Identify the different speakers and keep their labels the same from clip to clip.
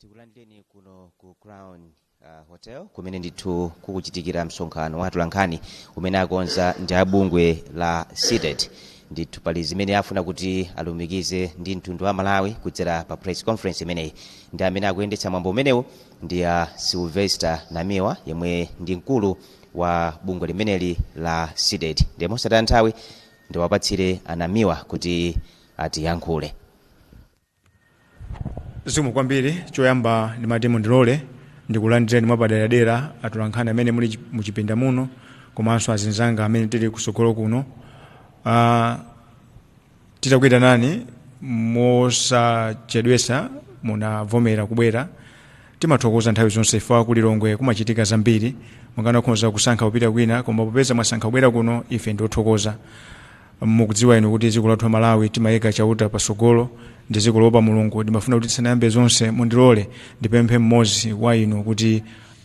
Speaker 1: tikulandireni kuno ku crown hotel kumene ndithu kukuchitikira msonkhano wa atolankhani umene akonza ndi abungwe la cdedi ndithu pali zimene afuna kuti alumikize ndi mtundu wa malawi kudzera pa press conference imeneyi ndi amene akuyendetsa mwambo umenewu ndi a sylvester namiwa yemwe ndi mkulu wa bungwe limeneli la cdedi ndiye mosataya nthawi ndiwapatsire anamiwa kuti atiyankhule zikomo kwambiri choyamba ndimati mundilole ndikulandireni mwapaderadera atolankhani amene muli chi- muchipinda muno komanso azinzanga amene tili kusogolo kuno titakuyitanani mosachedwesa munavomera kubwera Timathokoza nthawi zonse chifukwa ku Lilongwe kumachitika zambiri. Mukanakhoza kusankha kupita kwina koma popeza mwasankha kubwera kuno ife ndi othokoza. Mukudziwa inu kuti dziko lathu la Malawi timayika Chauta patsogolo ndi dziko loopa Mulungu. Ndimafuna kuti tisanayambe zonse mundilole ndipemphe mmodzi wa inu kuti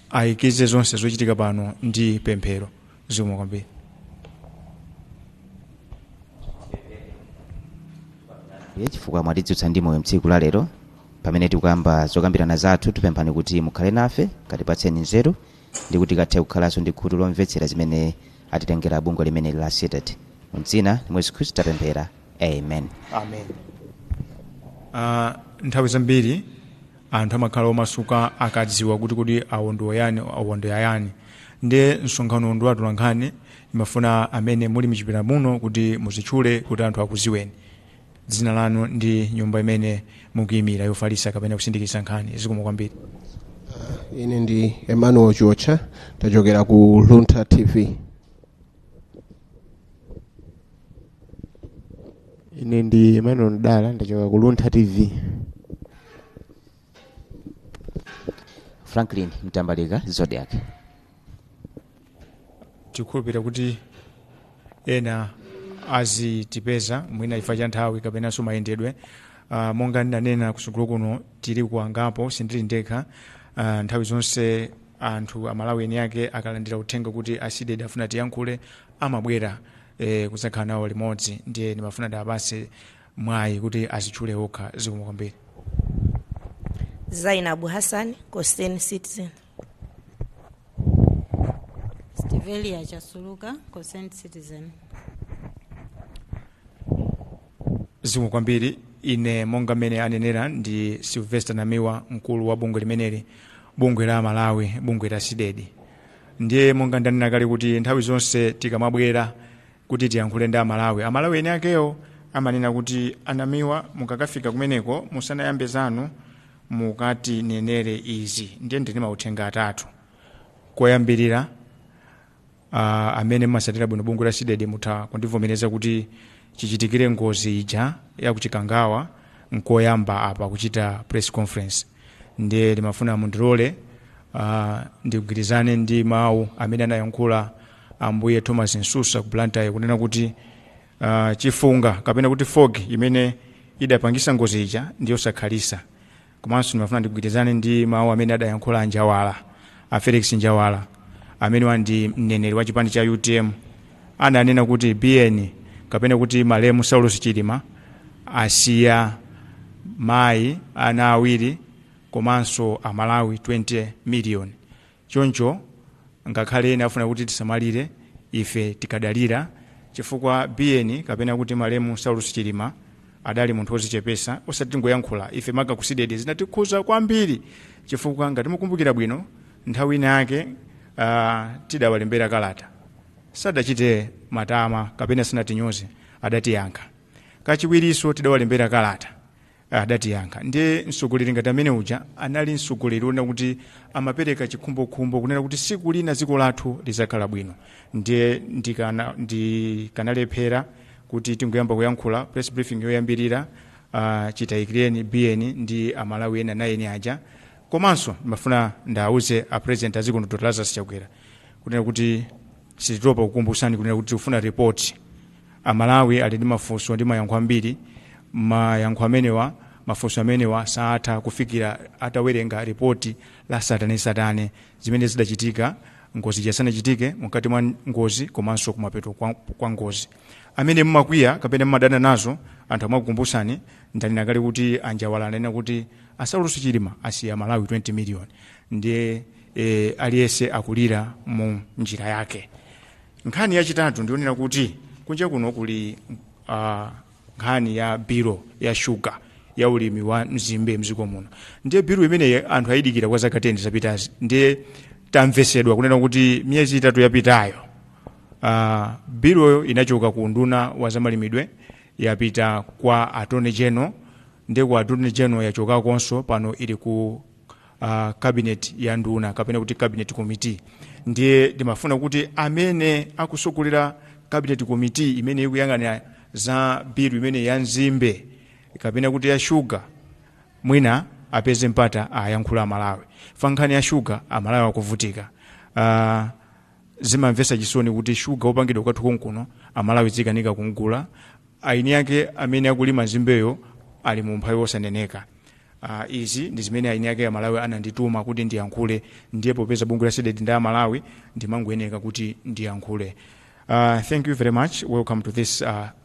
Speaker 1: ayikize zonse zochitika pano ndi pemphero. zikomo kwambiri Ye, chifukwa mwatidzutsa ndi moyo mtsiku la lero pamene tikuyamba zokambirana zathu tipemphani kuti mukhale nafe katipatseni nzeru ndi kuti tikathe kukhalanso ndi khutu lomvetsera zimene atitengera bungwe limeneli la cdedi mdzina la yesu khristu tapemphera amen amen uh, nthawi zambiri anthu amakhala omasuka akadziwa kuti kodi awo ndi ayani awo ndi ayani ndiye msonkhano uno ndi wa atolankhani ndimafuna amene muli mchipinda muno kuti muzitchule kuti anthu akuziweni dzina lanu ndi nyumba imene mukuyimira yofalisa kapena kusindikiza nkhani zikomo kwambiri ine ndi emmanuel chiotcha tachokera ku luntha tv ine ndi emmanuel mdala ndachoka ku luntha tv franklin mtambalika zodiak tikhulupirira kuti ena azitipeza mwina chifukwa cha nthawi kapenanso mayendedwe uh, monga ndinanena kutsogolo kuno tiliko angapo sindili ndekha uh, nthawi zonse anthu amalawi eni ake akalandira uthenga kuti a cdedi afuna atiyankhule amabwera e, kudzakhala nawo limodzi ndiye ndimafuna ndiwapase mwayi kuti azitchule okha zikomo kwambiri zainabu hassan concerned citizen Stevelia Chasuluka, Concerned Citizen. zikomo kwambiri ine monga mmene anenera ndi sylvester namiwa mkulu wa bungwe limeneli bungwe la amalawi bungwe la cdedi ndiye monga ndanena kale kuti nthawi zonse tikamabwera kuti tiyankhule ndi amalawi amalawi eni akewo amanena kuti anamiwa mukakafika kumeneko musanayambe zanu mukatinenere izi ndiye ndili ndi mauthenga atatu koyambirira uh, amene mumasatira bwino bungwe la cdedi mutha kundivomereza kuti chichitikire ngozi ija ya kuchikangawa nkoyamba apa kuchita press conference ndiye ndimafuna mundirole uh, ndigwirizane ndi mawu amene anayankhula ambuye thomas msusa ku blantyre kunena kuti uh, chifunga kapena kuti fog imene idapangisa ngozi ija ndiyosakhalisa komanso ndimafuna ndigwirizane ndi mawu amene adayankhula a njawala a felix njawala amene wa ndi mneneri wa chipani cha utm ananena kuti biyeni kapena kuti malemu saulos chilima asiya mayi ana awiri komanso amalawi 20 miliyoni Choncho ngakhale ena afuna kuti tisamalire, ife tikadalira chifukwa Biyeni kapena kuti malemu Saulos Chilima adali munthu ozichepesa osati tingoyankhula ife maka ku Cdedi zinatikhuza kwambiri chifukwa ngati mukumbukira bwino nthawi ina yake uh, tidawalembera kalata sadachite matama kapena sanatinyoze adatiyankha kachiwiriso tidawalembera kalata adatiyankha ndiye mtsogoleri ngati amene uja anali mtsogoleri onena kuti amapereka chikhumbokhumbo kunena kuti siku lina dziko lathu lizakhala bwino ndiye ndikana- ndikanalephera kuti tingoyamba kuyankhula press briefing yoyambirira uh, chitayikireni biyeni ndi amalawi ena eight aja komanso ndimafuna ndawuze a president a dziko lino dr lazarus chakwera kunena kuti sititopa kukumbutsani kunena kuti tikufuna report Amalawi ali ndi mafunso ndi mayankho ambiri. Mayankho amenewa, mafunso amenewa saatha kufikira atawerenga lipoti la satanesatane zimene zidachitika ngozi ija isanachitike, mkati mwa ngozi komanso kumapeto kwa, kwa ngozi. Amene mumakwiya kapena mumadana nazo anthu akamakukumbutsani ndanena kale kuti a Njawala ananena kuti a Saulos Chilima asiya amalawi 20 million ndiye eh, aliyese akulira mu njira yake nkhani yachitatu ndionena kuti kunja kuno kuli uh, nkhani ya bilu ya shuga ya ulimi wa mzimbe mziko muno ndiye bilu imeneyi anthu ayidikira kwa zaka 10 zapitazi ndiye tamvesedwa kunena kuti miyezi itatu yapitayo uh, biluyo inachoka ku unduna wa zamalimidwe yapita kwa attorney general ndiye ku attorney general yachokakonso pano ili ku uh, cabinet ya nduna kapena kuti cabinet committee ndiye ndimafuna kuti amene akusogolera cabinet committee imene ikuyang'anira za bilu imene ya nzimbe kapena kuti ya shuga mwina apeze mpata ayankhule amalawi pa nkhani ya shuga amalawi akuvutika uh, zimamvetsa chisoni kuti shuga wopangidwa kwathu konkuno amalawi azikanika kumgula aini ake amene akulima nzimbeyo ali mu umphawi wosaneneka uh, izi ndi zimene eni ake amalawi anandituma kuti ndiyankhule ndiye popeza bungwe la Cdedi ndi amalawi ndimangoyeneka kuti ndiyankhule uh, thank you very much welcome to this uh,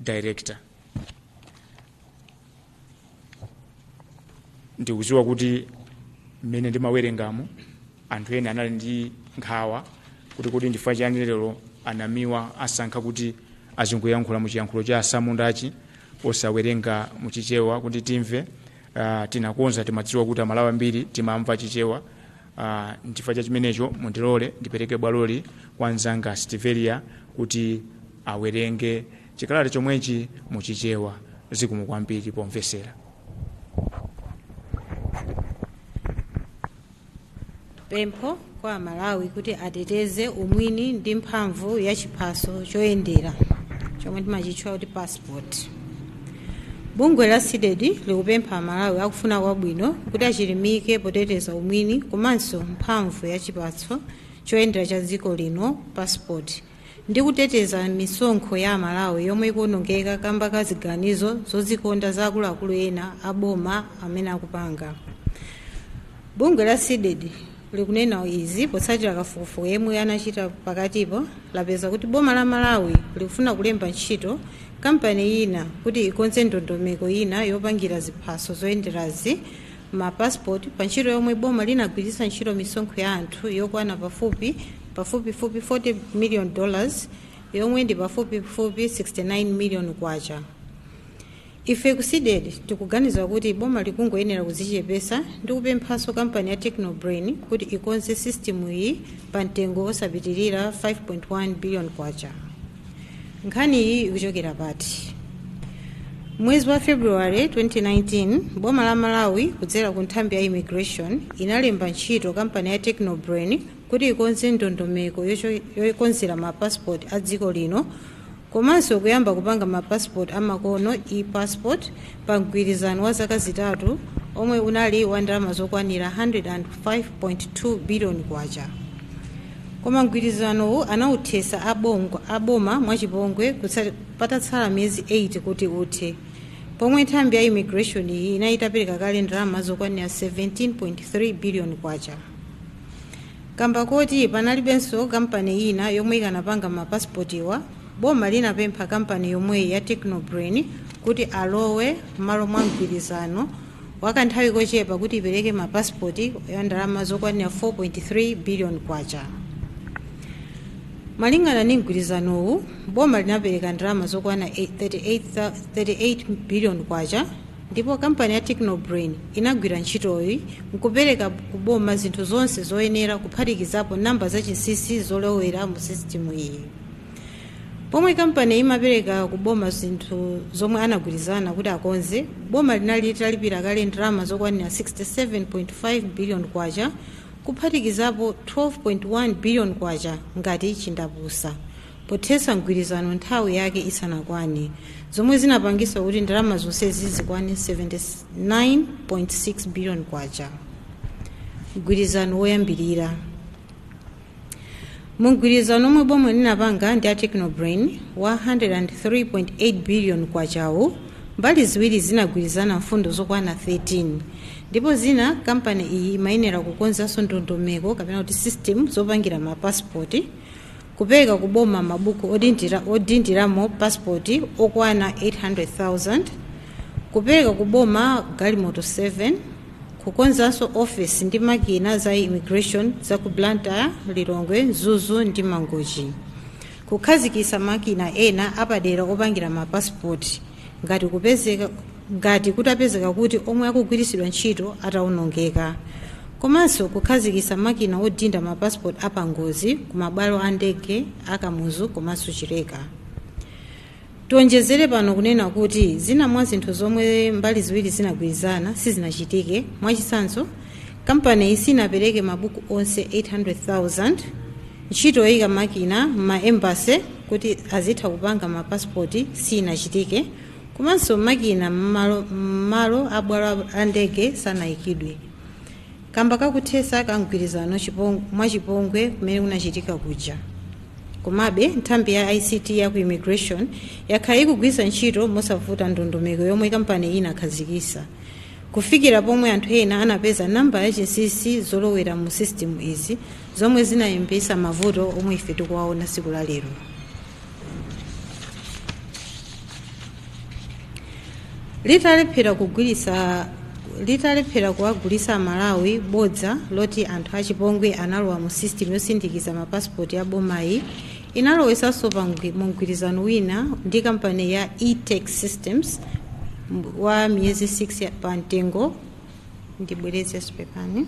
Speaker 1: director ndikudziwa kuti mmene ndimawerengamo anthu ena anali ndi nkhawa kuti kodi ndi chifukwa chani lero a Namiwa asankha kuti azingoyankhula mu chiyankhulo cha atsamundachi osawerenga mu chichewa kuti timve uh, tinakonza timadziwa kuti amalawi ambiri timamva chichewa Uh, nchifukwa cha chimenecho mundilole ndipereke bwaloli kwa mzanga Stivelia kuti awerenge chikalata chomwechi muchichewa zikomo kwambiri pomvesera pempho kwa amalawi kuti ateteze umwini ndi mphamvu ya chiphaso choyendera chomwe timachitchula kuti passport Bungwe la Cdedi likupempha Amalawi akufuna kwabwino kuti achilimike poteteza umwini komanso mphamvu ya chiphaso choyendera cha dziko lino, passport, ndi kuteteza misonkho ya Amalawi yomwe ikuonongeka kamba ka ziganizo zodzikonda za akuluakulu ena a boma amene akupanga. Bungwe la Cdedi likunena izi potsatira kafukufuku yemwe anachita pakatipo lapeza kuti boma la malawi likufuna kulemba ntchito kampani ina kuti ikonze ndondomeko ina yopangira ziphaso zoyenderazi mapasipoti pa ntchito yomwe boma linagwiritsa ntchito misonkho ya anthu yokwana pafupi pafupifupi 40 million dollars yomwe ndi pafupifupi 69 million kwacha Ife ku Cdedi tikuganiza kuti boma likungoyenera kudzichepetsa ndi kupemphanso kampani ya Techno Brain kuti ikonze system iyi pa mtengo osapitilira K5.1 billion. Nkhani iyi ikuchokera pati? Mwezi wa February 2019 boma la Malawi kudzera ku nthambi ya Immigration inalemba ntchito kampani ya Techno Brain kuti ikonze ndondomeko yokonzera ma passport a dziko lino komanso kuyamba kupanga ma passport amakono e-passport pa mgwirizano wa zaka zitatu omwe unali wa ndalama zokwanira 105.2 billion kwacha koma mgwirizanowu anauthesa abongo aboma mwachipongwe kutsa- patatsala miyezi 8 kuti uthe pomwe nthambi ya immigration iyi inali itapereka kale ndalama zokwanira 17.3 billion kwacha Kamba koti panalibenso kampani ina yomwe ikanapanga ma pasipotiwa, boma linapempha kampani yomweyi ya Technobrain kuti alowe mmalo mwa mgwirizano wakanthawi kochepa kuti ipereke ma pasipoti a ndalama zokwanira 4.3 billion kwacha. Malingana ndi mgwirizanowu, boma linapereka ndalama zokwana 38 38 billion kwacha Ndipo kampani ya Techno Brain inagwira ntchitoyi nkupereka ku boma zinthu zonse zoyenera kuphatikizapo namba za chinsinsi zolowera mu system iyi. Pomwe kampani imapereka ku boma zinthu zomwe anagwirizana kuti akonze, boma linali litalipira kale ndalama zokwanira 67.5 billion kwacha kuphatikizapo 12.1 billion kwacha ngati chindapusa. pothetsa mgwirizano nthawi yake isanakwane, zomwe zinapangisa kuti ndalama zonsezi zikwane K79.6 billion. Mgwirizano woyambilira Mu mgwirizano omwe boma linapanga ndi a Technobrain wa K103.8 billion-wu, mbali ziwiri zinagwirizana mfundo zokwana 13, ndipo zina kampani iyi imayenera kukonzanso ndondomeko kapena kuti system zopangira ma passport, Kupereka ku boma mabuku odindira odindiramo passport okwana 800,000, Kupereka ku boma galimoto 7, Kukonzanso office ndi makina za immigration za ku Blantyre, Lilongwe, Mzuzu ndi Mangochi. Kukhazikitsa makina ena apadera opangira ma passport. ngati kupezeka ngati kutapezeka kuti omwe akugwiritsidwa ntchito atawonongeka komanso kukhazikitsa makina odinda ma passport apangozi ku mabwalo a ndege a kamuzu komanso chileka tionjezere pano kunena kuti zina mwa zinthu zomwe mbali ziwiri zinagwirizana sizinachitike mwachitsanzo Kampaniyi sinapereke mabuku onse 800,000, ntchito yoika makina m'ma Embassy kuti azitha kupanga ma passport sinachitike, komanso makina m'malo m'malo a bwalo la ndege sanaikidwe kamba ka kuthesa kwa mgwirizano mwa chipongwe kumene kunachitika kuja. Komabe, nthambi ya ICT ya ku Immigration yakhala ikugwiritsa ntchito mosavuta ndondomeko yomwe kampaniyi inakhazikisa. kufikira pomwe anthu ena anapeza nambala ya chinsinsi yolowera mu system izi zomwe zinayambisa mavuto omwe ife tikuwaona tsiku la lero Litalephera kugwiritsa litalephera kuwagulitsa aMalawi bodza loti anthu achipongwe analowa mu system yosindikiza mapasipoti ya bomayi Inalowesanso pa mgwi, mu mgwirizano wina ndi kampani ya E-Tech Systems mb- wa miyezi 6 ya- pa mtengo ndibwereze pepani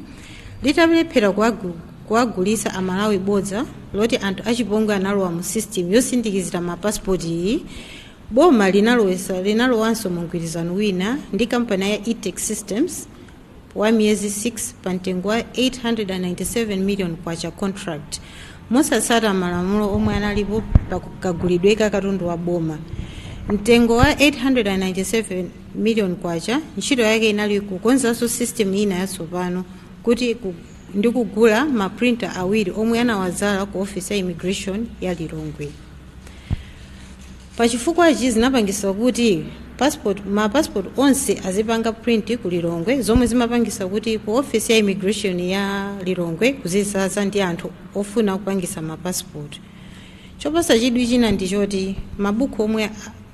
Speaker 1: litalephera kuwagu- kuwagulitsa aMalawi bodza loti anthu achipongwe analowa mu system yosindikizira mapasipoti iyi boma linalowesa linalowanso mu mgwirizano wina ndi kampani ya E-Tech Systems wa miyezi 6 pa mtengo wa 897 million kwacha contract mosatsata malamulo omwe analipo pa kagulidwe ka katundu wa boma mtengo wa 897 million kwacha ntchito yake inali kukonzanso system ina yatsopano kuti ku- ndi kugula maprinta awiri omwe anawadzala ku office ya immigration ya Lilongwe Pa chifukwachi zinapangisa kuti passport ma passport onse azipanga print ku Lilongwe zomwe zimapangisa kuti ku office ya immigration ya Lilongwe kuzizaza ndi anthu ofuna kupangisa ma passport. Chopasa chidwi china ndi choti mabuku omwe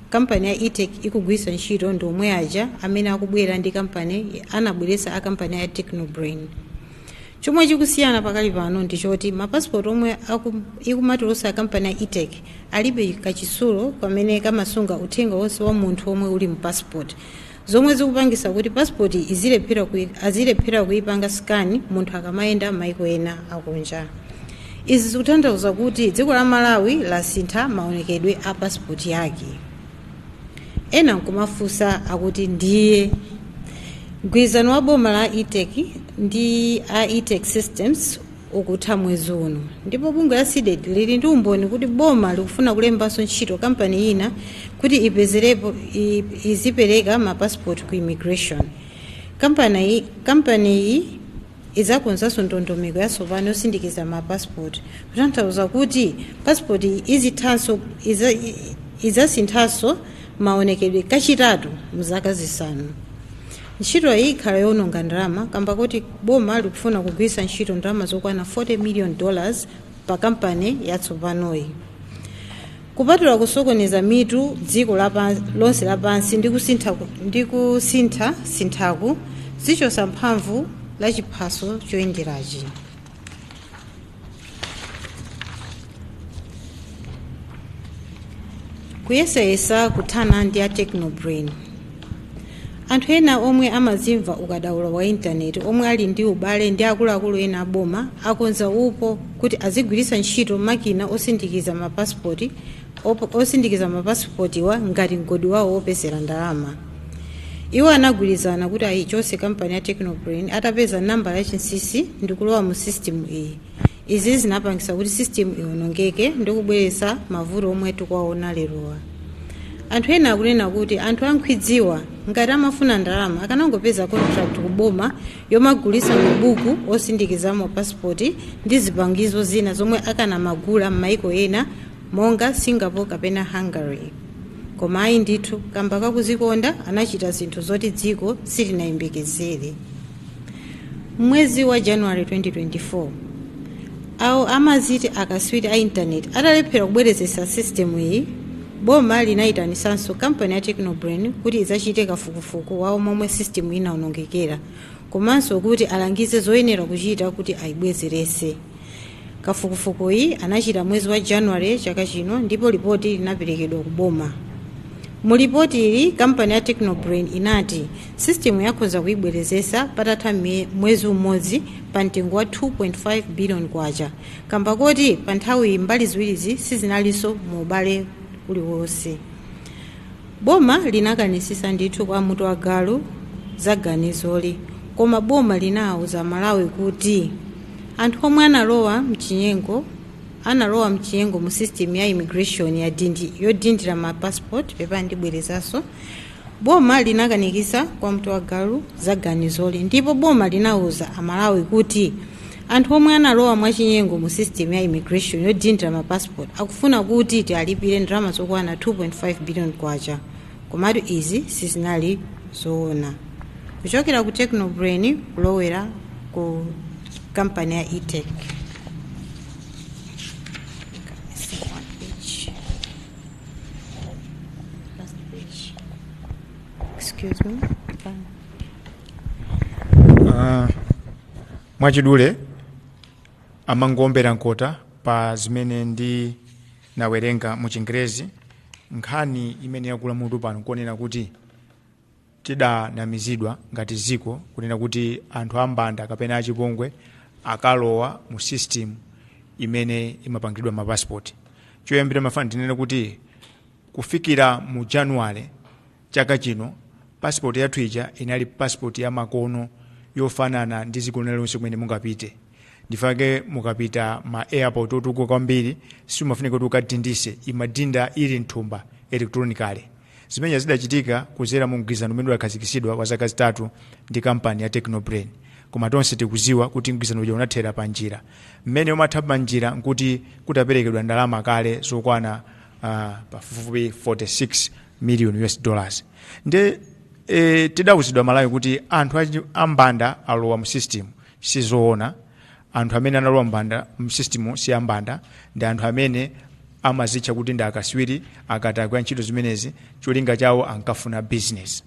Speaker 1: kampani ya E-Tech ikugwisa ntchito ndi omwe aja amene akubwera ndi kampani anabweresa a kampani ya Techno Brain. Chomwe chikusiyana pakali pano ndi choti ma passport omwe aku, ikumatulusa kampani ya E-Tech alibe kachitsulo kamene kamasunga uthenga wonse wa munthu womwe uli mu passport zomwe zikupangisa kuti passport izilephera kui, azilephera kuipanga scan munthu akamayenda maiko ena akunja. Izi zikutanthauza kuti dziko la Malawi lasintha maonekedwe a passport yake. ena nkumafunsa akuti ndiye mgwirizano wa boma la E-Tech ndi a E-Tech Systems ukutha mwezi uno ndipo bungwe la CDEDI lili ndi umboni kuti boma likufuna kulembanso ntchito kampani ina kuti ipezerepo i- izipereka mapasipoti ku immigration kampani kampaniyi idzakonzanso ndondomeko yatsopano yosindikiza ma passport kutanthauza kuti passport izithanso iza- i- idzasinthanso maonekedwe kachitatu mzaka zisanu ntchito iyi ikhala yowononga ndalama kamba kuti boma likufuna kugwiritsa ntchito ndalama zokwana 40 million dollars pa kampani yatsopanoyi Kupatula kusokoneza mitu dziko lapans, lonse lapansi ndi kusintha, ndi kusinthasinthaku, zichosa mphamvu la chiphaso choyenderachi. Kuyesayesa kuthana ndi a Techno Brain. Anthu ena omwe amadzimva ukadaulo wa intaneti omwe ali ndi ubale ndi akuluakulu ena a boma akonza upo kuti azigwiritsa ntchito makina osindikiza ma pasipoti osindikiza ma pasipotiwa ngati mgodi wawo wopezera ndalama. Iwo anagwirizana kuti ayichotse kampani ya Technobrain atapeza nambala yachinsisi ndikulowa mu sisitimu iyi. Izi zinapangisa kuti system iwonongeke ndi kubweretsa mavuto omwe tikuwaona lerowa. Anthu ena akunena kuti anthu a nkhwidziwa ngati amafuna ndalama akanangopeza contract ku boma yomagulitsa mabuku osindikizamo passport ndi zipangizo zina zomwe akanamagula m'maiko ena monga Singapore kapena Hungary. Koma ayi ndithu, kamba kakuzikonda anachita zinthu zoti dziko silinayembekezere. mwezi wa january 2024 awo amaziti akaswiri a intaneti atalephera kubwerezetsa sisitemu iyi boma linayitanisanso kampani ya technobrain kuti idzachite kafukufuku wawo momwe sisitemu inaonongekera komanso kuti alangize zoyenera kuchita kuti ayibwezeretse Kafukufukuyi anachita mwezi wa January chaka chino ndipo lipoti linaperekedwa ku boma. Mu lipotili, kampani ya Technobrain inati sisitimu yakhonza kuibwerezesa patatha mie- mwezi umodzi pa mtengo wa 2.5 billion kwacha kamba koti pa nthawiyi mbali ziwirizi sizinalinso mu ubale uliwonse. Boma linakanisisa ndithu kwa mtu wa galu za ganizoli koma boma linauza amalawi kuti anthu omwe analowa mchinyengo analowa mchinyengo mu system ya immigration ya dindi yodindira ma passport pepa ndibwerezenso boma linakanikisa kwa mtu wa galu za ganizoli ndipo boma linauza amalawi kuti anthu omwe analowa mwachinyengo mu system ya immigration yodindira ma passport akufuna kuti tiwalipire ndalama zokwana 2.5 billion kwacha komatu izi sizinali zoona kuchokera ku technobrain kulowera ku kampani ya etech Excuse me. Ah, mwachidule amangoombera mkota pa zimene ndinawerenga mu chingerezi nkhani imene yakula mutu pano n'kunena kuti tidanamizidwa ngati ziko kunena kuti anthu ambanda kapena achipongwe akalowa mu system imene imapangiridwa mapasipoti choyambira mafuna tinene kuti kufikira mu januwale chaka chino passport yathu ija inali passport ya makono yofanana ndi dziko lina lonse kumene mungapite ndi chake mukapita ma airport otukuka kwambiri simufunika kuti mukadinditse imadinda ili mthumba electronically zimene zidachitika kuzera mu mgwirizano umene udakhazikitsidwa wa zaka zitatu ndi kampani ya technobrain koma tonse tikuziwa kuti mgwirizano uja unathera pa njira mmene umatha pa njira nkuti kutaperekedwa ndalama kale zokwana uh, pafupifupi 46 million us dollars nde e, tidawuzidwa malawi kuti anthu achiwembu ambanda alowa mu system sizoona anthu amene analowa mu system si ambanda ndi anthu amene amazitcha kuti ndi akaswiri akatakwe a ntchito zimenezi cholinga chawo ankafuna business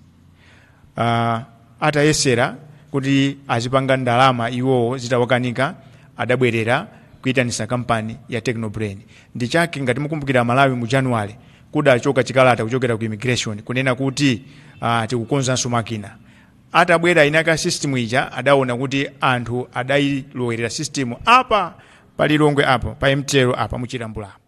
Speaker 1: uh, atayesa kuti azipanga ndalama iwowo zitawakanika adabwerera kuyitanisa kampani ya technobrain ndi chake ngati mukumbukira malawi mu january kudachoka chikalata kuchokera ku immigration kunena kuti ah, tikukonzanso makina atabwera mu system ija adaona kuti anthu adayilowerera system apa pa lilongwe apa pa mtl apa muchilambula apa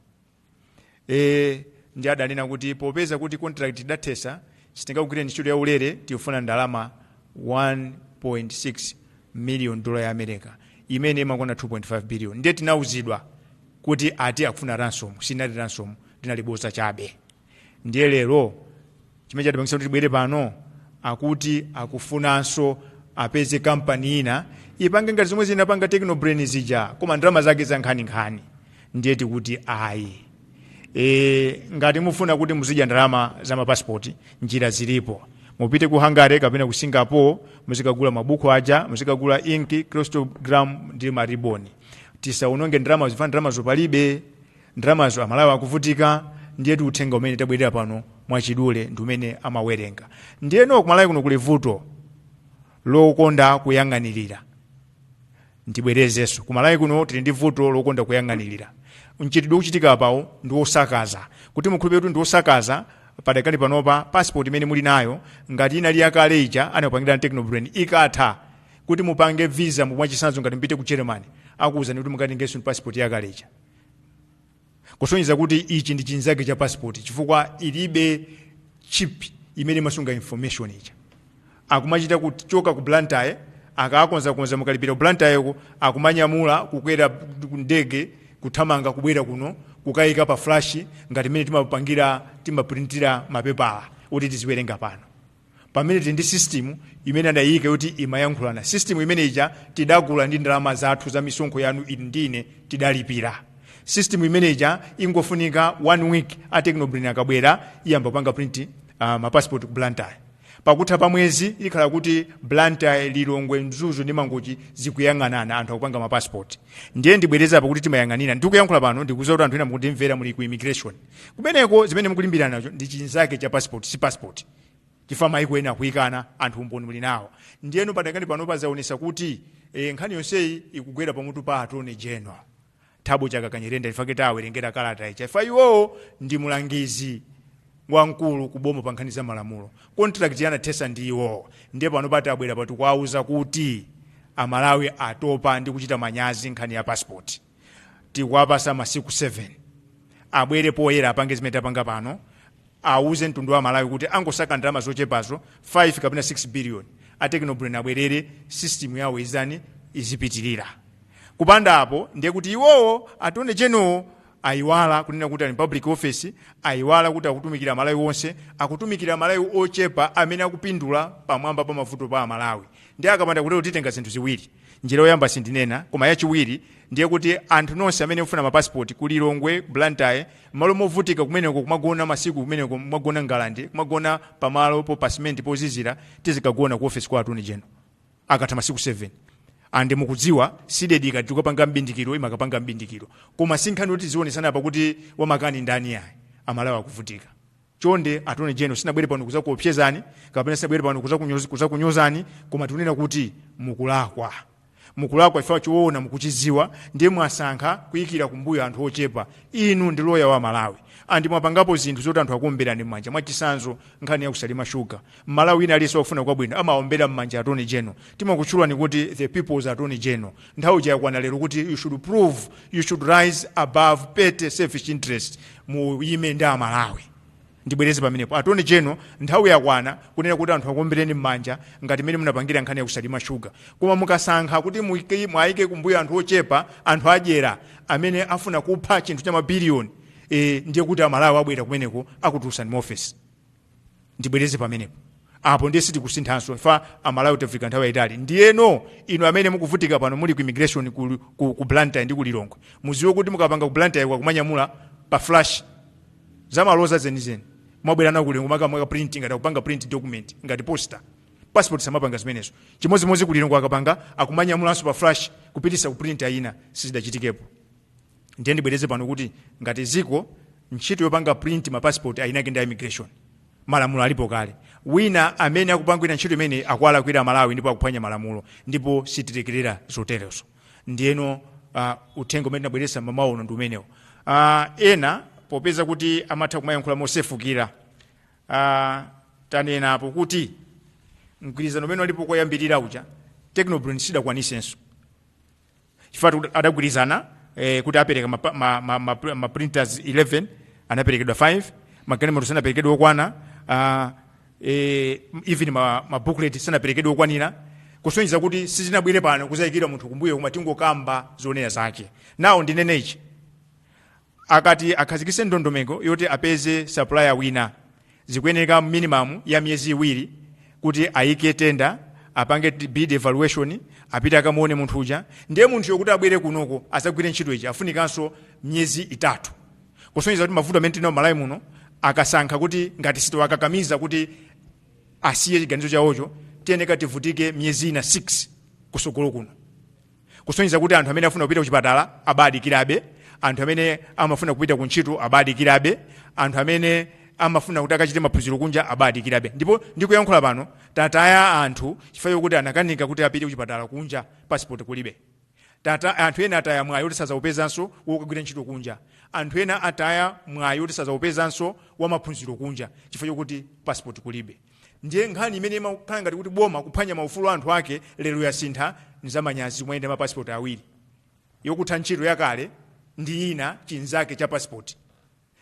Speaker 1: e, ndi adanena kuti popeza kuti contract idathesa sitingagwire ntchito ya ulere tifuna ndalama 1.6 million dola ya america imene imakwana 2.5 billion ndiye tinauzidwa kuti ati akufuna ransom sinali ransom linali bodza chabe ndiye lero chimene chatipangisa kuti tibwere pano akuti akufunanso apeze kampani ina ipange ngati zomwe zinapanga technobrain zija koma ndalama zake za nkhaninkhani ndiye tikuti ayi e, ngati mufuna kuti muzidya ndalama za mapasipoti njira zilipo mupite ku hungary kapena ku singapore muzikagula mabuku aja muzikagula inki hologram ndi mariboni tisaononge ndalama zifukwa ndalama zopalibe ndalamazo amalawi akuvutika ndiyetu uthenga umene tabwerera pano mwachidule ndi umene anawerenga ndiyeno kumalawi kuno kuli vuto lokonda kuyang'anirira ndibwerezenso kumalawi kuno tili ndi vuto lokonda kuyang'anirira mchitidwe ukuchitika apawo ndi wosakaza kuti mukhulupirire kuti ndi wosakaza padakali panopa passport imene muli nayo ngati inali yakale ija anakupangirani technobrain ikatha kuti mupange visa mwachitsanzo ngati mupite ku germany akuwuzani kuti mukatengenso ndi passport yakale ija kusonyeza kuti ichi ndi chinzake cha passport chifukwa ilibe chip imene imasunga information ija akumachita kuchoka ku blantyre akakonzakonza mukalipira ku blantyreko akumanyamula kukwera ndege kuthamanga kubwera kuno kukayika pa flash ngati mmene timapangira timaprintira mapepala kuti tiziwerenga pano pamene tili ndi system imene adayiyika kuti imayankhulana system imene ija tidagula ndi ndalama zathu za misonkho yanu inu ndi ine tidalipira system imene ija ingofunika one week a Techno Brain akabwera iyamba kupanga print uh, mapassport ku blantyre pakutha pa mwezi ikhala kuti blantyre lilongwe mzuzu ndi mangochi zikuyang'anana anthu akupanga mapassport ndiye ndibwereza pakuti timayang'anira ndikuyankhula pano ndikuuza kuti anthu ena mukundimvera muli ku immigration kumeneko zimene mukulimbirana nacho ndi chinsalu cha passport si passport chifukwa maiko ena akuyikana ndipo umboni muli nawo ndiyeno padakali pano pazaonesa kuti e, nkhani yonseyi ikugwera pamutu pa attorney general thabo chakaka nyirenda chifukwa kuti awerengera kalata ija chifukwa iwowo ndi mulangizi wamkulu kuboma pa nkhani za malamulo contract anathetsa ndi iwowo ndiye pano bati abwera bati kuwauza kuti amalawi atopa ndi kuchita manyazi nkhani ya passport tikuwapasa masiku 7 abwere poyera apange zimene tapanga pano auze mtundu wa malawi kuti angosaka ndalama zochepazo 5 kapena 6 billion a Techno Brain abwerere system yawo ija izipitirira kupanda apo ndiye kuti iwowo attorney general-wo ayiwala kunena kuti ali public officer ayiwala kuti akutumikira malawi onse akutumikira malawi ochepa amene akupindula pamwamba pa mavuto a amalawi and akapanda kutero titenga zinthu ziwiri njira yoyamba sindinena koma yachiwiri ndiye kuti anthu nonse amene mufuna mapasipoti ku lilongwe blantyre malo movutika kumeneko kumagona masiku kumeneko kumagona ngalande kumagona pamalo po pasimenti pozizira tizikagona ku ofesi kwa atoni jeno akatha masiku 7 and mukudziwa CDEDI ikati tikapanga mbindikiro imakapanga mbindikiro koma sinkhani yoti tizionesana apa kuti wamakani ndani ayi amalawi akuvutika Chonde Attorney General sinabwere pano kuzakuopsezani kapena sinabwere pano kuzakunyoz, kuzakunyozani koma tikunena kuti mukulakwa. Mukulakwa chifukwa choona mukuchidziwa ndiye mwasankha kuikira kumbuyo anthu ochepa. Inu ndi lawyer wa Malawi and mwapangapo zinthu zoti anthu akuomberani mmanja mwachisanzo nkhani ya ku Salima Sugar. Mmalawi wina aliyense wofuna kwabwino amaombera mmanja Attorney General. Timakutchulani kuti the people's Attorney General. Nthawi ija yakwana lero kuti you should prove, you should rise above petty selfish interest, muyime ndi a Malawi. Ndibwereze pamenepo. Attorney General, nthawi yakwana kunena kuti anthu akuombereni m'manja ngati mmene munapangira nkhani ya ku Salima Sugar. Koma mukasankha kuti muike- mwaike kumbuyo anthu ochepa, anthu adyera amene afuna kupha chinthu cha mabiliyoni, eh, ndiye kuti a Malawi abwera kumeneko akutulusani mu office. ndibwereze pamenepo apo ndiye sitikusinthanso chifukwa amalawi tavutika nthawi yayitali ndiyeno inu amene mukuvutika pano muli ku immigration ku, ku, ku blantyre ndi ku lilongwe muziwe kuti akapanga ku blantyre ko akumanyamula pa flash zamaloza zenizeni mwabwera nawo kulilongwe makamaka print ngati akupanga print document ngati poster passport samapanga zimenezo chimodzimodzi kulilongwe akapanga akumanyamulanso pa flash kupitisa ku printer ina sizidachitikepo ndiye ndibwereze pano kuti ngati ziko ntchito yopanga print ma passport ayini ake ndi a immigration malamulo alipo kale wina amene akupangira ntchito imene akualakwira malawi ndipo akuphwanya malamulo ndipo sitilekerera zoterezo ndiyeno uh, uthenga umene tinabweresa mamawa uno ndi umenewo uh, ena popeza kuti amatha kumayankhula mosefukira uh, tanenapo kuti mgwirizano umene unalipo koyambirira uja technobrand sidakwanisenso chifukwa tikuti adagwirizana eh, kuti apereka ma, ma, ma, ma, ma printers 11 anaperekedwa 5 magalimoto sanaperekedwe okwana uh, eh, even ma, ma booklet sanaperekedwe okwanira kusonyeza kuti sitinabwere pano kuzayikira munthu kumbuyo koma tingokamba zoona zake nawo ndinenechi akati akhazikitse ndondomeko yoti apeze sapulaya wina zikuyeneka minimamu ya miyezi iwiri kuti ayike tenda apange t- bid evaluation apite akamuone munthu uja ndiye munthuyo kuti abwere kunoko azagwire ntchito ija afunikanso miyezi itatu kusonyeza kuti mavuto amene tili nawo malawi muno akasankha kuti ngati sitiwakakamiza kuti asiye chiganizo chawocho tiyeneka tivutike miyezi ina 6 kusogolo kuno kusonyeza kuti anthu amene afuna kupita kuchipatala abadikirabe anthu amene amafuna kupita ku ntchito abadikirabe anthu amene amafuna kuti akachite maphunziro kunja abadikirabe ndipo ndikuyankhula pano tataya anthu chifukwa chokuti anakanika kuti apite kuchipatala kunja pasipoti kulibe tata anthu ena ataya mwayi woti sazawupezanso wokagwira ntchito kunja anthu ena ataya mwayi woti sazawupezanso wamaphunziro kunja chifukwa chokuti pasipoti kulibe ndiye nkhani imene imakhala ngati kuti boma likuphwanya maufulu a anthu ake lero yasintha nzamanyazi kumayenda mapasipoti awiri yokutha ntchito yakale ndi ina chinzake cha pasipoti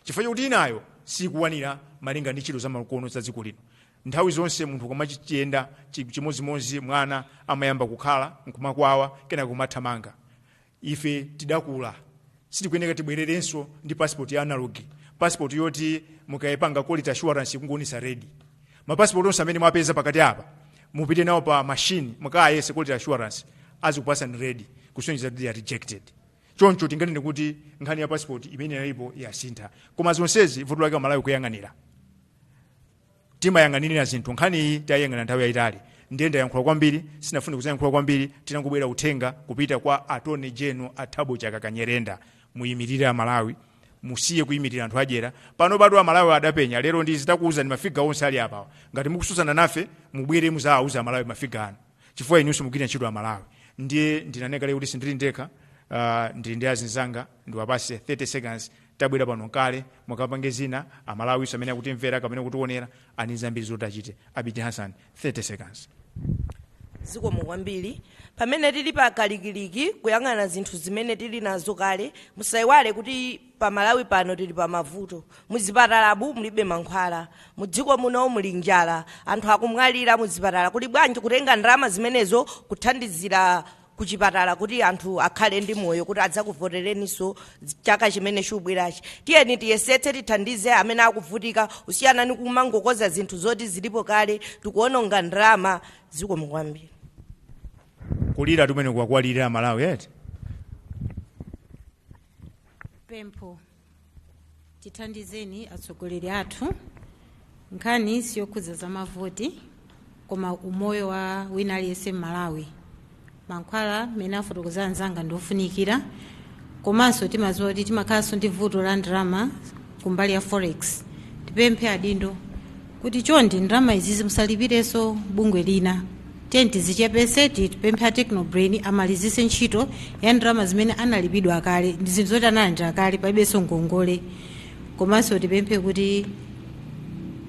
Speaker 1: chifukwa chakuti inayo sikuwanira malinga ndi ntchito zamakono za dziko lino nthawi zonse munthu ukamachiyenda chi- chimodzimodzi mwana amayamba kukhala nkumakwawa kenaka kumathamanga ife tidakula sitikuyeneka tibwererenso ndi passport ya analog passport yoti mukayipanga quality assurance ikungoonetsa red mapasipoti onse amene mwapeza pakati apa mupite nawo pa machine mukayese quality assurance azikupasani red kusonyeza kuti they are rejected choncho tinganene kuti nkhani ya passport imene inalipo yasintha koma zonsezi vuto lake amalawi kuyang'anira timayang'anirira zinthu nkhani iyi tayang'ana nthawi yayitali ndiye ndayankhula kwambiri sindinafune kuzayankhula kwambiri tinangobweretsa uthenga kupita kwa atone jeno a thabo chakaka nyirenda muyimirire amalawi musiye kuyimirira anthu adyera pano bado amalawi adapenya lero ndi titakuwuzani mafiga onse ali apawa ngati mukususana nafe mubwere muzawawuza amalawi mafiga anu chifukwa inunso mugwira ntchito amalawi ndiye ndinanena lero kuti sindili ndekha uh, ndili ndi azinzanga ndiwapase 30 seconds tabwera pano nkale mukapange zina amalawinso amene akutimvera kapena kutionera ani zambiri zoti achite abiti hassan 30 seconds zikomo kwambiri pamene tili pa kalikiliki kuyang'ana zinthu zimene tili nazo kale musayiwale kuti pa malawi pano tili pa mavuto muzipatalamu mulibe mankhwala mu dziko muno muli njala anthu akumwalira muzipatala kuli bwanji kutenga ndalama zimenezo kuthandizira kuchipatala kuti anthu akhale ndi moyo kuti adzakuvotereniso chaka chimene chikubwerachi tiyeni tiyesetse tithandize amene akuvutika kusiyana ni kumangokoza zinthu zoti zilipo kale tikuononga ndalama zikomo kwambiri kulira kumene akulira amalawi eti pempho tithandizeni atsogoleri athu nkhani siyokhudza za mavoti koma umoyo wa wina aliyense mmalawi mankhwala mmene afotokozera anzanga ndi ofunikira komanso timadziwa kuti timakhalanso ndi vuto la ndalama kumbali ya forex tipemphe adindo kuti chonde ndalama izizi musalipireso bungwe lina tiyeni tizichepese tipemphe a technobrain amalizise ntchito ya ndalama zimene analipidwa kale ndi zinthu zoti analandira kale palibenso ngongole komanso tipemphe kuti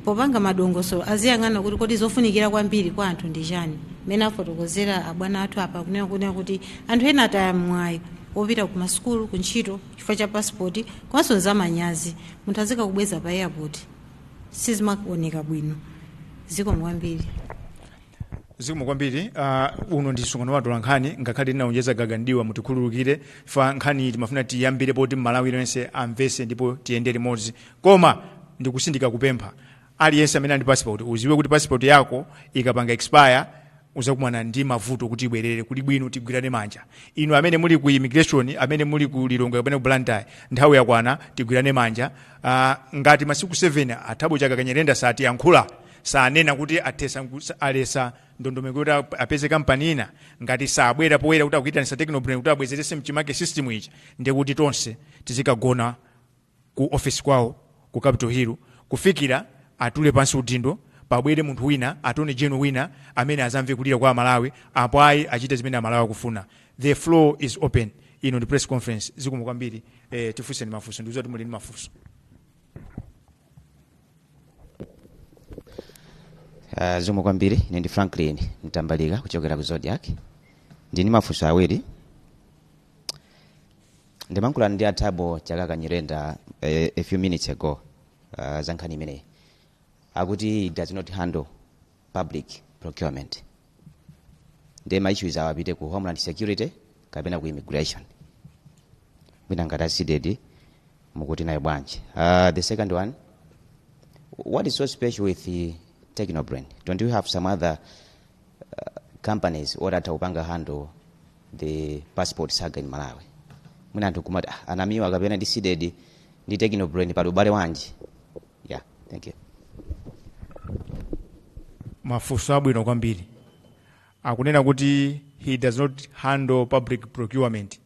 Speaker 1: popanga madongosolo aziyang'ana kuti kodi zofunikira kwambiri kwa anthu ndi chani mmene afotokozera abwana athu apa kunena kunena kuti anthu ena ataya mwayi wopita ku masukulu ku ntchito chifukwa cha pasipoti komanso nzamanyazi munthu azikakubweza pa airport sizimakuoneka bwino zikomo kwambiri zikomo kwambiri uh, uno ndi msonkhano wa atolankhani ngakhale ndinaonjeza gaga ndiwa mutikhululukire pa nkhani timafuna tiyambire poti mmalawi yense amvese ndipo tiyende limodzi koma ndikutsindika kupempha aliyense amene ali ndi passport uziwe kuti passport yako ikapanga expire uzakumana ndi mavuto kuti ibwerere kuli bwino tigwirane manja inu amene muli ku immigration amene muli ku lilongwe kapena ku blantyre nthawi yakwana tigwirane manja uh, ngati masiku 7 a thabo chakaka nyirenda satiyankha sanena kuti athesa nku- sa- alesa ndondomeko kuti a- apeze kampani ina ngati sabwera poyera kuti akuitanisa technobrain kuti abwezerese mchimake system ichi ndekuti tonse tizikagona ku office kwawo ku capital hill kufikira atule pansi udindo pabwere munthu wina attorney general wina amene azamve kulira kwa amalawi apo ayi achite zimene amalawi akufuna the floor is open ino ndi press conference zikomo kwambiri eh, tifunseni mafunso ndikuziwa kuti muli ndi mafunso Uh, zikomo kwambiri ine ndi franklin mtambalika kuchokera ku zodiak ndili ndi mafunso awiri ndimankhulana ndi a Thabo Chakaka Nyirenda eh, a few minutes ago uh, za nkhani imeneyi akuti it does not handle public procurement ndiye ma issues awo apite ku homeland security kapena ku immigration mwina ngati a CDEDI mukuti nayo bwanji uh, the second one what is so special with the technobrain don't you have some other companies oti atha kupanga handle the passport saga in malawi mwina anthu kumati ah, a Namiwa kapena CDEDI ndi techno brain pali ubale wanji yeah thank you mafunso abwino kwambiri akunena kuti he does not handle public procurement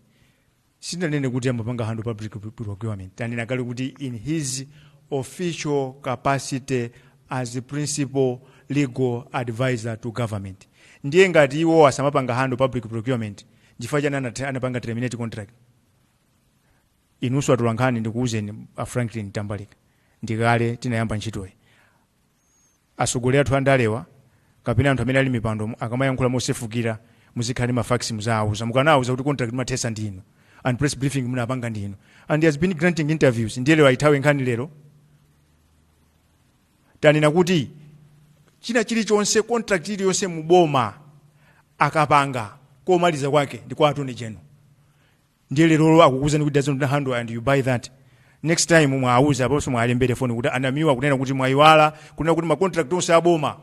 Speaker 1: sindinanene kuti amapanga handle public procurement tanena kale kuti in his official capacity as the principal legal advisor to government ndiye ngati iwo asamapanga handle public procurement chifukwa chani anat- anapanga terminate contract inunso atolankhani ndikuwuzeni a franklin tambalika ndikale tinayamba ntchitoyi Atsogoleri athu andalewa kapena anthu amene ali m'mipandomu akamayankhula mosefukira muzikhala ndi ma facts muzawauza mukanawauza kuti contract munathetsa ndiinu and press briefing munapanga ndiinu and he has been granting interviews ndiye lero ayithawe nkhani lero tanena kuti china chilichonse contract iliyonse muboma akapanga komaliza kwake ndi kwa attorney general ndiye lerolo akukuuzani kuti doesn't handle and you buy that next time muwauze apanso muwaimbire foni kuti a Namiwa kunena kuti mwayiwala kunena kuti macontract onse aboma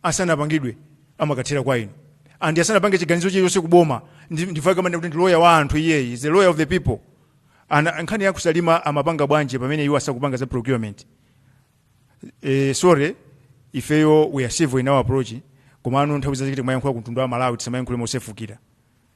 Speaker 1: asanapangidwe amakathera kwa inu and asanapange chiganizo chilichonse kuboma ndi- ndifake kama kuti ndi lawyer wa anthu iyeyo is the lawyer of the people and nkhani ya ku Salima amapanga bwanji pamene iwo asakupanga za procurement eh, sorry ifeyo we are civil in our approach komano nthawi zina tikamayankhula kumtundu wa malawi tisamayankhule mosefukira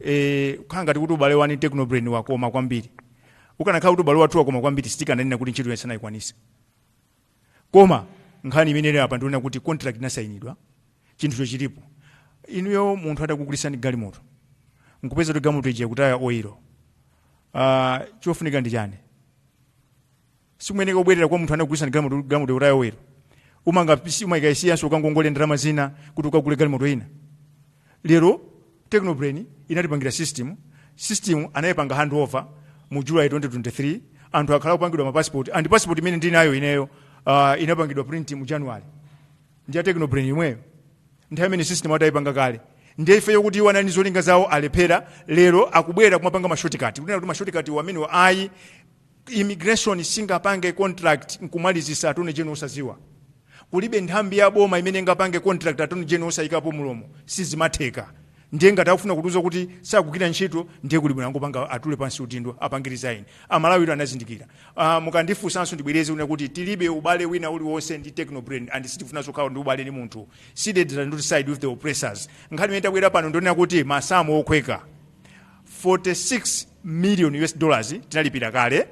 Speaker 1: eh, kukhala ngati kuti ubale wa ine ndi technobrain wakoma kwambiri ukanakhala kuti ubale wathu wakoma kwambiri sitikananena kuti ntchito yonse sanayikwanise koma nkhani imene ili apa ndi yonena kuti contract inasainidwa chinthucho chilipo inuyo munthu atakugulitsani galimoto nkupeza kuti galimoto ija ikutaya oilo uh, chofunika ndi chani simuyeneka kubwerera kwa munthu anakugulitsani galimoto galimoto kuti ayowera umanga pisi umaikayisiyanso ukangongole ndalama zina kuti ukagule galimoto ina lero technobrain inatipangira system system anayipanga handover mu july 2023 anthu akhala akupangidwa mapassport and passport imene ndinayo ineyo uh, inapangidwa print mu january ndi ya technobrain yomweyo nthawi imene system atayipanga kale ndiye ifeyo kuti iwo ali ndi zolinga zawo alephera lero akubwera kumapanga mashortcut kunena kuti mashortcut iwo amenewo ayi immigration singapange contract nkumalizisa attorney general osaziwa kulibe nthambi ya boma imene ingapange contract attorney general osayikapo mulomo sizimatheka ndiye ngati akufuna kutiuza kuti sakugwira ntchito ndiye kuli bwino angopanga atule pansi udindo apange resign a Malawi lero anazindikira uh, mukandifunsanso ndibwereze kunena kuti tilibe ubale wina uliwonse ndi technobrain and sitifunanso kukhala ndi ubale ndi munthu seated and not side with the oppressors nkhani imene tabwera pano ndi yonena kuti masamu okhweka 46 million us dollars tinalipira kale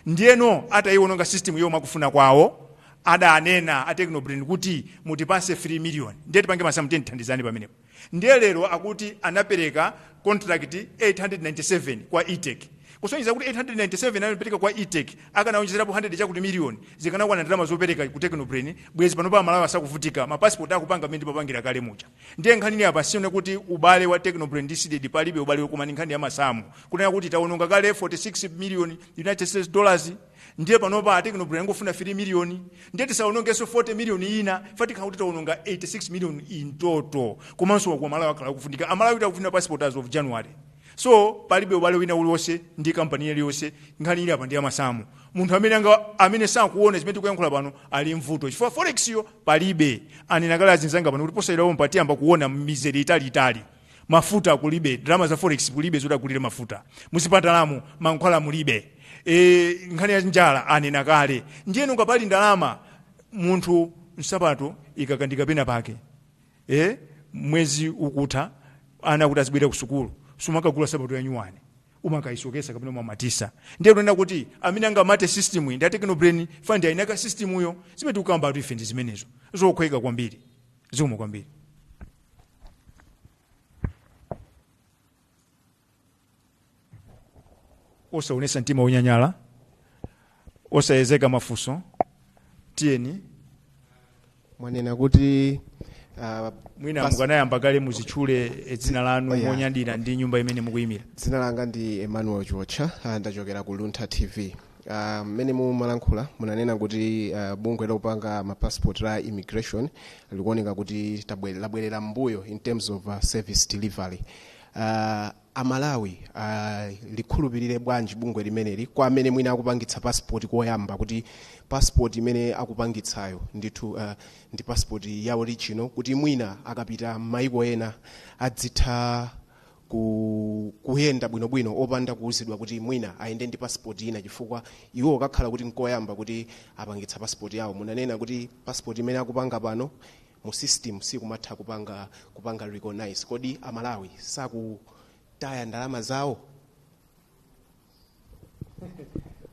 Speaker 1: ndiyeno atayiwononga system yomwe akufuna kwawo adanena a technobrain kuti mutipase 3 million ndiye tipange masamu tandithandizani pamenepo ndiye lero akuti anapereka contract 897 kwa etec kusonyeza kuti 897 anapereka kwa etec akanawonjezerapo 100 chakuti million zikanakwana ndalama zopereka ku technobrain bwezi pano pa malawi sakuvutika mapasipoti akupanga mmene timapangira kale muja ndiye nkhani ili apa si yonena kuti ubale wa technobrain ndi cdedi palibe ubale koma ndi nkhani ya masamu kunena kuti tawononga kale 46 million united states dollars ndiye panopa technobrain angofuna 3 million ndiye tisawonongenso 40 million ina pa tikhala kuti tawononga 86 million in total komanso kuti a malawi akhala akuvutika amalawi tavutikira passport as of january so palibe ubale wina uliwonse ndi kampani iliyonse nkhani ili apa ndi ya masamu munthu amene anga- amene sakuona zimene tikuyankhula pano ali ndi vuto chifukwa forex yo palibe anena kale azinzanga pano kuti posachedwa pompa tiyamba kuona mizere italiitali mafuta kulibe ndalama za forex kulibe zoti agulire mafuta muzipatalamu mankhwala mulibe e, nkhani ya njala anena kale ndiyeno ngati pali ndalama munthu nsapato ikang'ambika pena pake e, mwezi ukutha ana akuti azibwera ku sukulu sumakagula nsapato yanyuwani umakayisokesa kapena umamatisa ndiye tikunena kuti amene angamate system iyi ndi a technobrain fana ndi eni ake a system yo zimene tikukambatu ife ndi zimenezo zokhweka kwambiri zikomo kwambiri osaonetsa mtima wonyanyala osayiza mafunso tiyeni mwanena kuti ah, mwina pas- mukanayamba kaye muzitchule eh, dzina lanu Oh, yeah. monyadira ndi nyumba imene mukuyimira dzina langa ndi emmanuel chiotcha ah, ndachokera ku luntha tv Ah, mmene mumalankhula munanena kuti ah, bungwe lopanga mapassport la immigration likuoneka kuti tabwe- labwerera mbuyo in terms of ah, service delivery Ah, a Malawi alikhulupilire bwanji bungwe limeneli kwa amene mwina akupangitsa passport koyamba kuti passport imene akupangitsayo ndithu uh, ndi passport ya original kuti mwina akapita m'mayiko ena adzitha ku, kuyenda bwinobwino opanda kuuzidwa kuti mwina ayende ndi passport ina chifukwa iwo kakhala kuti nkoyamba kupangitsa passport yawo munanena kuti passport imene akupanga pano mu system sikumatha kupanga kupanga recognize kodi amalawi sakutaya ndalama zawo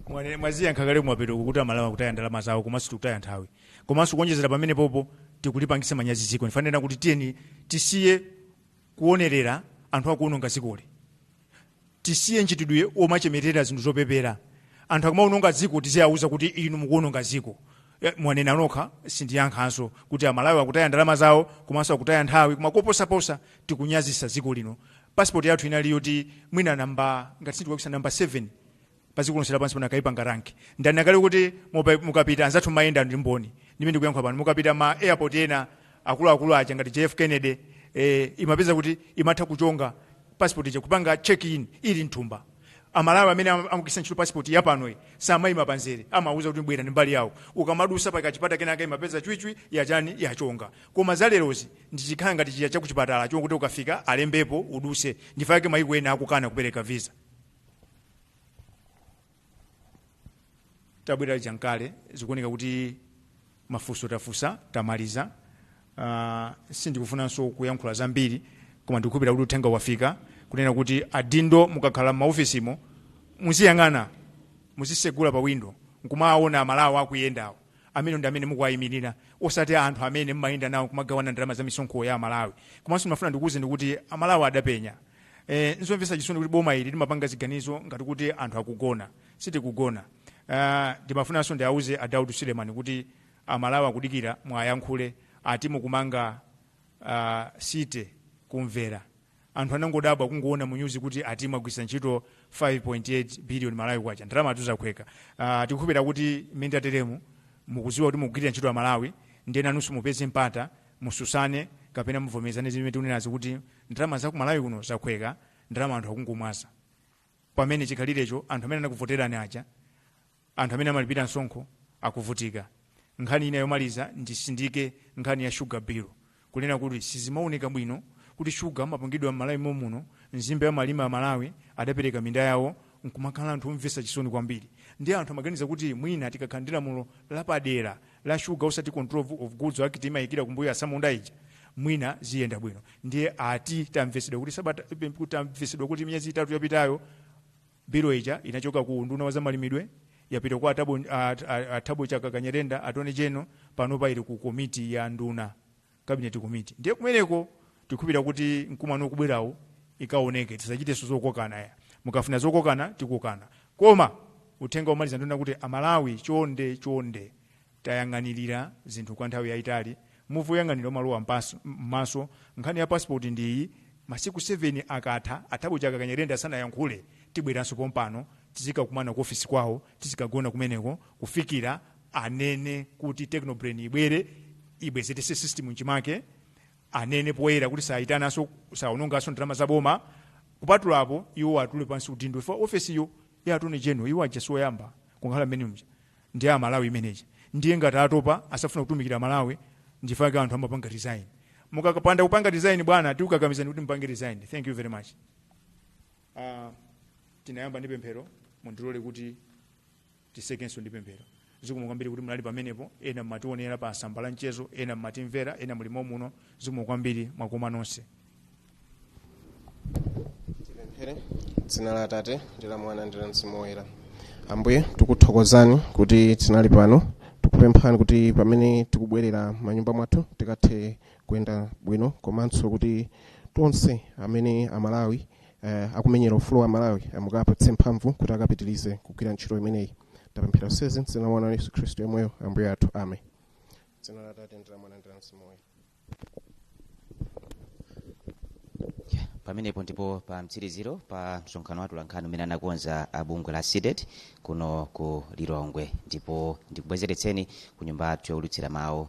Speaker 1: Mwane- mwaziyankha kale kumapeto kuti amalawi akutaya ndalama zawo komanso tikutaya nthawi komanso kuonjezera pamene pompo tikulipangisa manyazi dziko nchifukwa ndimanena kuti tiyeni tisiye kuonerera anthu akuononga dzikoli tisiye mchitidwe omachemerera zinthu zopepera anthu akamawononga dziko tiziwauza kuti inu mukuwononga dziko Eh, mwanena nokha sindiyankhanso kuti amalawi akutaya ndalama zawo komanso akutaya nthawi koma koposaposa tikunyazisa dziko lino pasipoti yathu inali yoti mwina namba ngati sindikulakwitsa namba 7 pa dziko lonse lapansi pano akaipanga rank ndani akane kuti mupa- mukapita anzathu mmayenda ndi mboni ndime ndikuyankha pano mukapita ma airport ena akuluakulu aja ngati jf kennedy eh, umapeza kuti imatha kuchonga passport ija kupanga check in ili mthumba amalawi amene am- amagwiritsa ntchito passport yapanoyi samayima pamzere amauzidwa kuti bwera ndi mbali yawo ukamadusa pa kachipata kenaka umapeza chwichwi yachani yachonga koma zalerozi zikukhala ngati chija chakuchipatala chofuna kuti ukafika alembepo uduse nchifukwa chake mayiko ena akukana kupereka visa tabwera muja nkale zikuoneka kuti mafunso tafunsa tamaliza uh, sindikufunanso kuyankhula zambiri koma ndikukhulupirira kuti uthenga wafika kunena kuti adindo mukakhala m'maofisimo muziyang'ana muzisegula pa windo nkumaona amalawi akuyendawo amenewo ndi amene mukuwayimirira osati anthu amene mmayenda nawo kumagawana ndalama za misonkho za amalawi komanso ndimafuna ndikuwuzeni kuti amalawi adapenya Eh, nzomvetsa chisoni kuti boma ili limapanga ziganizo ngati kuti anthu akugona sitikugona Ah, ndimafunanso ndiauze a daud suleman kuti amalawi akudikira mwayankhule ati mukumanga ah, city kumvera anthu anangodabwa kungoona mu news kuti ati mwagwiritsa ntchito 5.8 billion malawi kwacha ndalamatu zakhweka uh, tikukhulupira kuti mukatero mukuziwa kuti mukugwirira ntchito amalawi ndiye nanunso mupeze mpata mutsutsane kapena muvomerezane zimene tikunenazi kuti ndalama za ku malawi kuno zakhweka ndalama anthu akungomwaza pamene chikhalirecho, anthu amene anakuvoterani aja anthu amene amalipira msonkho akuvutika nkhani ina yomaliza ndisindike nkhani ya shuga bill kunena kuti sizimaoneka bwino kuti shuga amapangidwa m'malawi momuno nzimbe amalima amalawi adapereka minda yawo nkumakhala anthu omvesa chisoni kwambiri ndiye anthu amaganiza kuti mwina tikakhala ndi lamulo lapadera la sugar osati control of goods act imayikira kumbuyo atsamunda ija mwina ziyenda bwino ndiye ati tamvesedwa kuti sabata kuti tamvesedwa kuti miyezi itatu yapitayo bilu ija inachoka ku unduna wa zamalimidwe yapita kwa a thabo, at, at, a thabo chakaka nyirenda attorney general panopa ili ku komiti ya nduna cabinet committee ndiye kumeneko tikukhulupirira kuti mkumano ukubwerawo zikaoneke tisachitenso zokokana koma mukafuna zokokana tikokana koma uthenga omaliza ndi onena kuti amalawi chonde chonde tayang'anirira zinthu kwa nthawi yayitali muvi woyang'anira umalowa mpaso- m'maso nkhani ya passport ndi iyi masiku 7 akatha a Thabo Chakaka Nyirenda asanayankhule tibweranso pompano tizikakumana ku ofisi kwawo tizikagona kumeneko kufikira anene kuti technobrain ibwere ibwezetenso system mchimake anene poyera kuti sayinanso saononganso ndalama za boma kupatula apo iwo atule pansi udindo chifukwa ofesiyo ya attorney general iwo aja sioyamba kukhala mmenemuja ndi amalawi imeneja ndiye ngati atopa sakufuna kutumikira malawi nchifukwa chake anthu amapanga resign mukapanda kupanga resign bwana tikukakamizani kuti mupange resign thank you very much Uh, tinayamba ndi pemphero mundilole kuti titsekenso ndi pemphero zikomo kwambiri kuti munali pamenepo ena mmationera pa masamba a mchezo ena mmatimvera ena mulimo muno zikomo kwambiri mwakoma nonse tipemphere dzina la atate ndi la mwana ndi la mzimu woyera ambuye tikuthokozani kuti tinali pano tikupemphani kuti pamene tikubwerera m'manyumba mwathu tikathe kuyenda bwino komanso kuti tonse amene amalawi eh, akumenyera ufulu wa malawi mukawapatse mphamvu kuti akapitirize kugwira ntchito imeneyi tapemphera zonsezi mdzina la mwana wanu yesu khristu yemweyo ambuye athu amen dzina la atate ndi la mwana ndi la mzimu woyera pamenepo ndi pa mtsiriziro pa msonkhano wa atolankhani umene anakonza abungwe la CDEDI kuno ku lilongwe ndipo ndikubwezeretseni ku nyumba yathu yowulutsira mawu